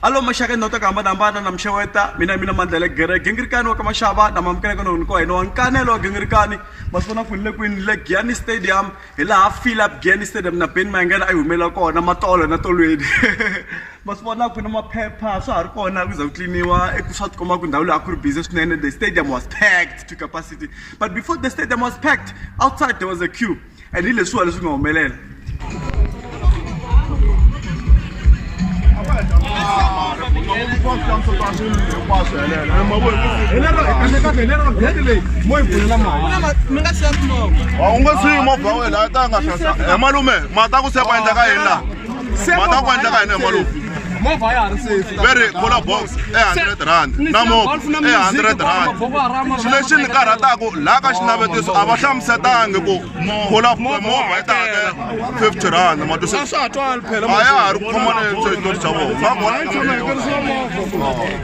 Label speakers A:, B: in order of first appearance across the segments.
A: halo maxaka ndhawu ta ku hambanahambana na mixeweta mina mina mandlele gere gingirikani wa ka maxava lama amukeleke nohoni ko hina wa nkanelo wa gingirikani masiku na kwini le kwini le giani stadium hi laha philip giani stadium na ben mayengena a yi humelela kona matolo na tolweni masiku vona kwini maphepha swa ha ri kona ku za ku tliniwa eku swa tikomba ku ndhawu leyi a ku ri busy swinene the stadium was packed to capacity but before the stadium was packed outside there was a queue And ni leswiwa leswi nga humelela u nga siyi movha wena a ta nga hlasa emalume ma ta ku sepa endla ka yini laha mata ku endleka yini hi malovu movha ya ha ri safe ve ri cola box e hundred rand na movha e hundred rand xi lexi ni karhataku laha ka xinavetiso a va hlamusetangi ku cola movha yi ta hakela fifty rand matwisa a ya ha ri ku khomaneni switori swa vona va vona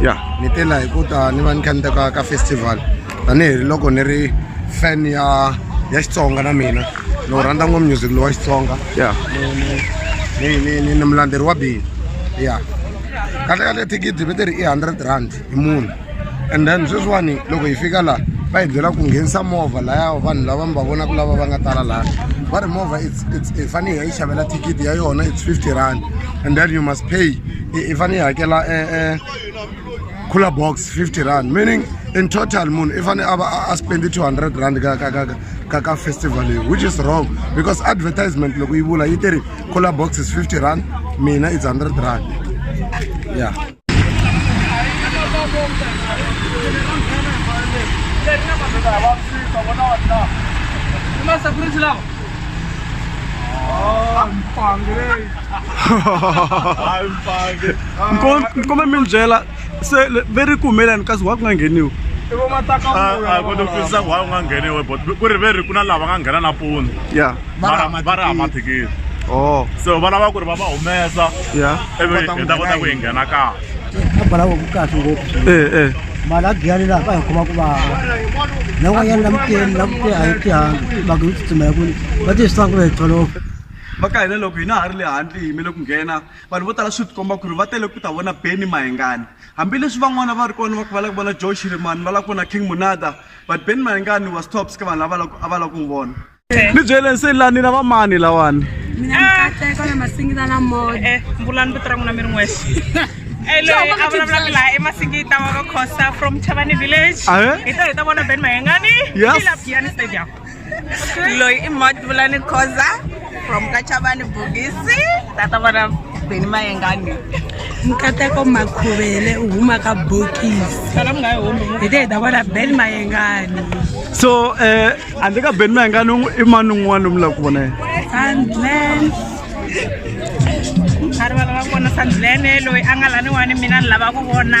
A: ya ni te la hi ku ta ni va ni kha ni teka ka festival tanihiloko ni ri fan ya ya xitsonga na mina ni wu rhandza ngopfu music lowa xitsonga ya ni ni ni ni mulandzeri wa bini ya kahle kahle thikithi ve ti ri i hundred rand hi munhu and then sweswiwani loko hi fika laha va hi byela ku nghenisa movha laya vanhu lava mi va vonaka lava va nga tala laha va ri movha i fanele hi yi xavela thikithi ya yona it's fifty rand and then you must pay i fanele i hakela e e cooler box 50 rand meaning in total munhu i fanele a va a spendi 200 rand ka ka ka ka ka festival leyi which is wrong because advertisement loko yi vula yi tiri cooler box is 50 rand mina it's 100 rand yeah Mas a cruz lá. Oh, um pão, nkome mi ni byela se ve ri kumelani kasi wa ku nga ngheniwi kota kutwisisa ku hayi u nga ngheniwe but ku ri ve ri ku na lava nga nghena nampundzu ya va ri hama thikithi oh. so va lava ku ri va va humesa ya ivi hi ta kota ku yi nghena kahle abalawo ku kahle ngopfu eh, eh. mali a giyani laha ka hi khoma ku vava na n'wanyana na muteni na muteni a yi tihangi va ku yi tsutsumela ku va tivisanga ku ri hi tolofa va ka hina loko hina ha ri le handle hi yimele ku nghena vanhu vo tala swi tikomba ku ri va tele ku ta vona beni mahengani hambileswi van'wana va ri kona va ku va lava ku vona joe shirimani va lava ku vona king munada but beni mahengani was tops ka vanhu lava a va lava ku n'wi vona ni byeleni se lani na va mani lawani mina mikateko na masingita na moya eh, mbulani vito ra n'wina mi ri n'wexe loyi a vulavulaka laha emasingita wa va costa from chavani village hi ta hi ta vona ben mahengani ila piani stadium loyi i madvulani khoza from kachavani bogisi tata vona beni mayengani nkateko makhuvele u huma ka bokisi hi te hi ta vona beni mayengani so um handle ka beni mayengani i mani un'wana lomu lava ku vona yena a rivala va vona sandlene loyi a nga laniwani mina ni lava ku vona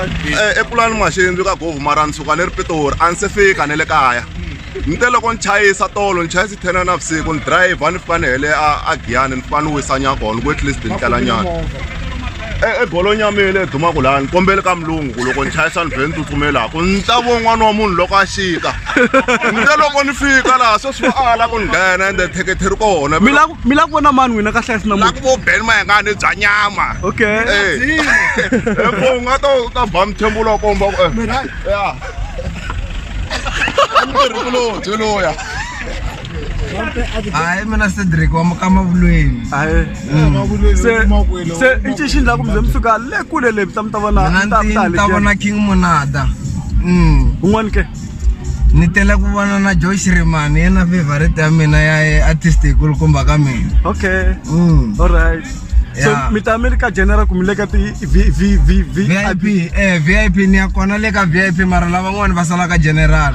A: Eh, epulani n'waxindzu ka govu mara ni suka ni ri pitori a ni se fika ni le kaya ni te loko ni chayisa tolo ni chayisa ten na vusiku ni driver ni fika ni hele a giyani ni fika ni wisa nyakona ni ku at least ni tlela nyana eh, ebolonyi ya mina leyi dumaka laha ni kombeli ka mulungu ku loko ni chayisa ni vhe ni tsutsumelaku ni ta vo n'wana wa munhu loko a xika ni te loko ni fika laha sweswi va ala ku ni nghena ende thekethe ri kona mi lava ku vona mani n'wina kahle kahle namuhla lava ku vo ben mayengani bya nyama okay epo u nga ta u ta ba mithembo lowa komba ku ya mirhi kulobye loya hayi mina cedric wa mukama vulweni se i cinxini laha kumbe mi fika le kule le mi ta mi ta vona mi ta ta vona king monada un'wani ke ni tela ku vona na joy shiremani yena favorite ya mina ya artist yikulukumba ka mina okay mm. all right so yeah. mi ta mi ri ka general ku mi le ka ti-vip eh, vip ni ya kona le ka vip mara lavan'wani va sala ka general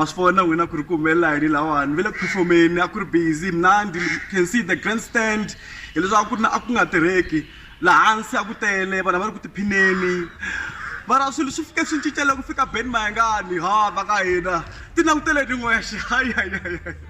A: ma swi vona n'wina ku ri ku humelela yini lawani ve le ku performeni a ku ri busy mnandi can see the grand stand hileswaku ku ri na a ku nga tirheki laha hansi a ku tele vanhu va ri ku tiphineni mara swilo swi fike swi cincela ku fika ben mayengani ha va ka hina ti languteleni n'wexe hayi hayi hayi hayi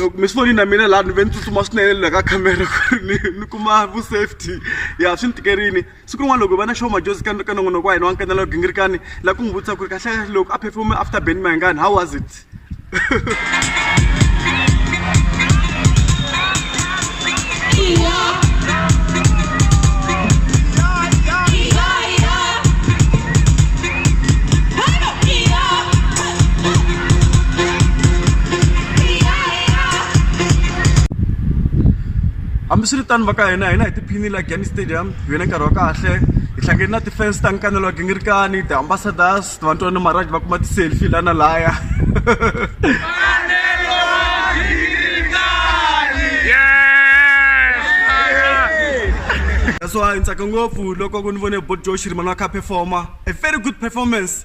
A: loko mi swi voni na mina laha ni ve ni tsutsuma swinene le ka camera ku ri ni ni kuma vu safety ya swi ni tikerini siku rin'wana loko hi va na show majozi ka ka nongonoko wa hina wa nkanela gingirikani la ku n'wi vutisa ku ri kahle loko a performe after band mayangani how was it hambiswiritano va ka hina hina hi tiphinile la game stadium hi ve na nkarhi wa kahle hi hlangane na ti-fans ta nkanelo wa gingirikani ti-ambassadors vantwana maraj va kuma ti-selfie la na laya that's why ni tsaka ngopfu loko ku ni vone bot josh rimani wa kha performer a very good performance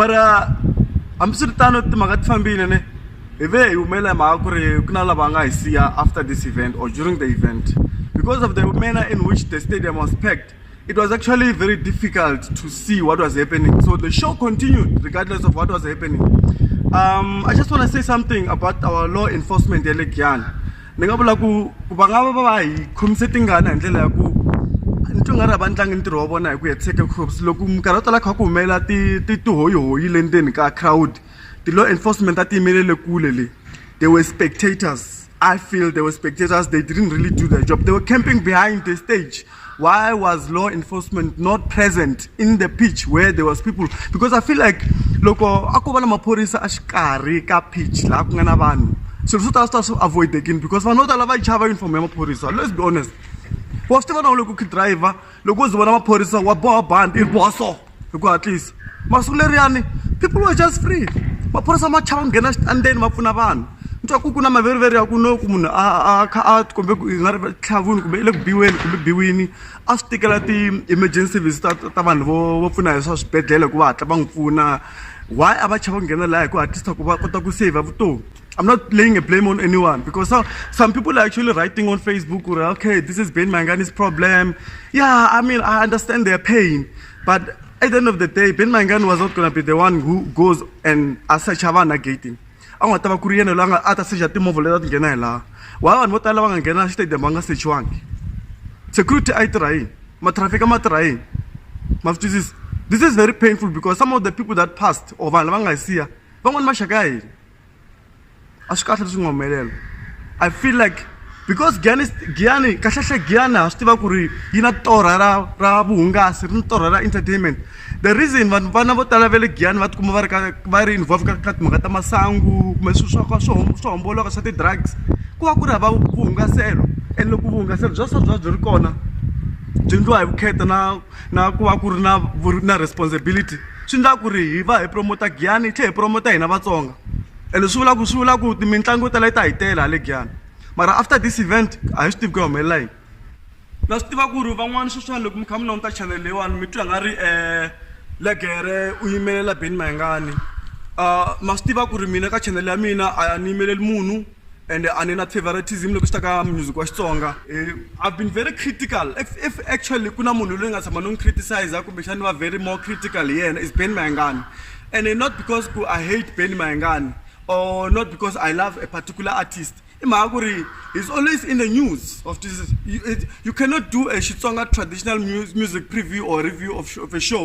A: mara hambiswiritano timhaka ti fambile ne hi ve hi humelela mhaka ku ri ku na lava nga hi siya after this event or during the event because of the manner in which the stadium was packed It was actually very difficult to see what was happening. So the show continued regardless of what was happening. Um, I just want to say something about our law enforcement ya le Giyani. Ni nga vula ku ku va nga va va hi khomise tingana hi ndlela ya ku ni twa nga ri a va ndlangi ntirho wa vona hi ku hetiseka cops loko minkarhi yo tala kha ku humelela ti ti tihoyihoyi le ndzeni ka crowd ti-law enforcement a ti yimelele kule le they were spectators I feel they were spectators, they didn't really do their job. They were camping behind the stage. Why was law enforcement not present in the pitch where there was people? Because I feel like loko a ko va na maphorisa a xikarhi ka pitch laha ku nga na vanhu swilo swo tala swi ta swi avoidekini because vanhu vo tala va yi chava uniform ya maphorisa let's be honest wa swi tiva na u le ku driver loko u zi vona maphorisa wa boha bandi i ri boha so hi ku hatlisa masiku leriyani people were just free maphorisa ma chava nghena xitandeni ma pfuna vanhu ni twa ku ku na maveriveri ya ku no ku munhu a kha a tikombe ku nga ri tlhavuni kumbe i le ku biweni kumbe biwini a swi tikela ti-emergency service ta ta vanhu vo vo pfuna hi swa swibedhlele hikuva hatla va n'wi pfuna why a va chava ku nghena laha hi ku hatlisa ku va kota ku saver vutomi I'm not laying a blame on anyone because some, some people are actually writing on Facebook, or, okay, this is Ben Mangani's problem. Yeah, I mean, I understand their pain, but at the end of the day, Ben Mangani was not going to be the one who goes and as such have a gating. a nga ta va ku ri yena loyi a nga a ta secha timovha leti a ti nghena hi laha wa vanhu vo tala va nga nghena xitedium va nga sechiwangi security a yi tirha yini matrafika ma tirha yini ma swi twisisa this is very painful because some of the people that passed or vanhu lava nga hi siya van'wani maxaka ya hina a swi kahle leswi nga humelela i feel like because giyani giyani kahlekahle giyani ha swi tiva ku ri yi na torha ra ra vuhungasi ri ni torha ra entertainment the reason vanhu vana vo tala va le giyani va tikuma va ri ka va ri involve ka ka timhaka ta masangu kumbe swilo swa ka swo swo homboloka swa ti-drugs ku va ku ri hava vuhungaselo and loko vuhungaselo bya swa byi va byi ri kona byi endliwa hi vukheta na na ku va ku ri na na responsibility swi endla ku ri hi va hi promote Giyani hi tlhela hi promote hina Vatsonga ene swi vula ku swi vula ku mitlangu yo tala yi ta hi tele hale Giyani mara after this event a hi swi tivi ku ya humelela yini na swi tiva ku ri van'wana sweswiwani loko mi kha mi languta channel leyiwani mi twa nga ri um legere u yimelela Benny Mayengani um ma swi tiva ku ri mina ka channel ya mina a ni yimeleli munhu and a ni na favoritism loko swi ta ka music wa xitsonga eh, i've been very critical if, if actually ku na munhu loyi nga tshama ni n'wi criticize kumbexani va very more critical hi yena is ben mayengani and eh, not because ku i hate ben mayengani or not because i love a particular artist i mhaka ku ri he's always in the news of this you, it, you cannot do a xitsonga traditional music preview or review of, of a show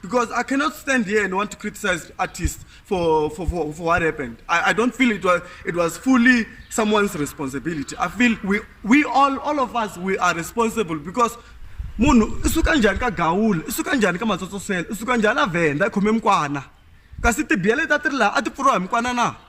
A: Because I cannot stand here and want to criticize artists for, for, for, for what happened. I, I don't feel it was, it was fully someone's responsibility. I feel we, we all, all of us, we are responsible because munhu i suka njhani ka gawula i suka njhani ka matsotsosela i suka njhani a vhenda i khome mikwana kasi tibiyele ta ti ri laha a ti pfuriwa hi mikwana na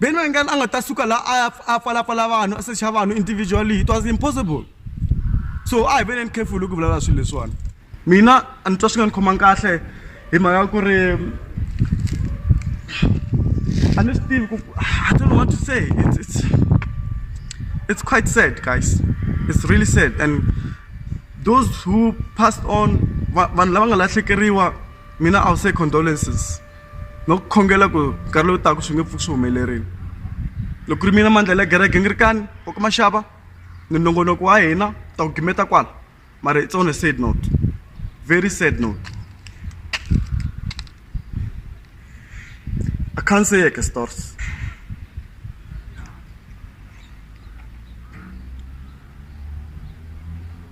A: Ben Wenger a nga ta suka la a ya a pfalapfala vanhu a secha vanhu individually it was impossible so a hi veneni careful ku vulavula swilo leswiwani mina a ni twa swi nga ni khomangi kahle hi mhaka ya ku ri a ni swi tivi ku i don't know what to say it's, it's, it's quite sad guys it's really sad and those who passed on vanhu lava nga lahlekeriwa mina i will say condolences no ku khongela ku nkarhi lowu taka swi nge pfuki swi humelerile loko ku ri mina mandlhela ya gereke ni ri kani wa ku maxava ni nongonoko wa hina ta ku gimeta kwala mara it's on a sad note very sad note i can't say like a stores